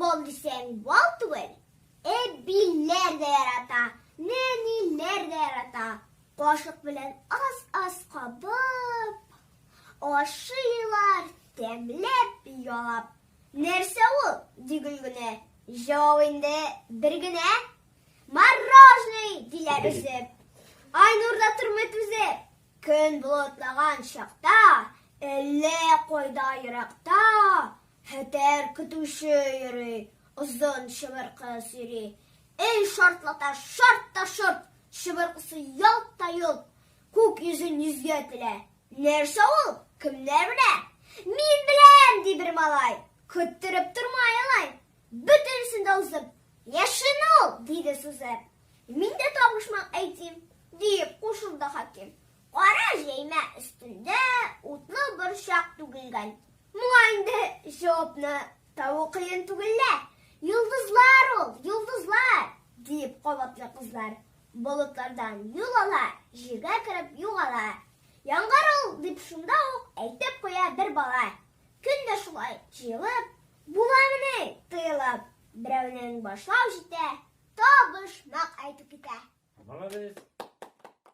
Бал дисәң бал түгел, әбиләр дә ярата, нәниләр дә ярата. Кашык белән аз-аз кабып, ашыйлар, тәмләп, ялап. Нәрсә ул? ди Гөлгенә. Җавап инде бер генә, Мороженый! диләр өзеп. Айнур да тормый түзеп. Көн болытлаган чакта, әллә кайда еракта, Хәтәр көтүче йөри, озын чыбыркы сөйри. Эй шартлата, шарт та шорт, чыбыркысы ялт та йолт. Күк йөзен йөзгә телә. Нәрсә ул, кемнәр белә? Мин беләм, ди бер малай. Көттереп тормый алай. Бөтенесен дә узып, яшен ул, диде сузып. Мин дә табышмак әйтим, диеп кушылды хаким. Кара җәймә өстендә утлы борчак түгелгән. Моңа инде җавапны табу кыен түгел лә. Йолдызлар ул, йолдызлар! диеп кабатлый кызлар. Болытлардан юл ала, җиргә кереп югала. Яңгыр ул, дип шунда ук әйтеп куя бер бала. Көн дә шулай җыелып, буламыни тыелып, берәүнең башлау җитә, та-быш-мак әйтеп китә. Молодец!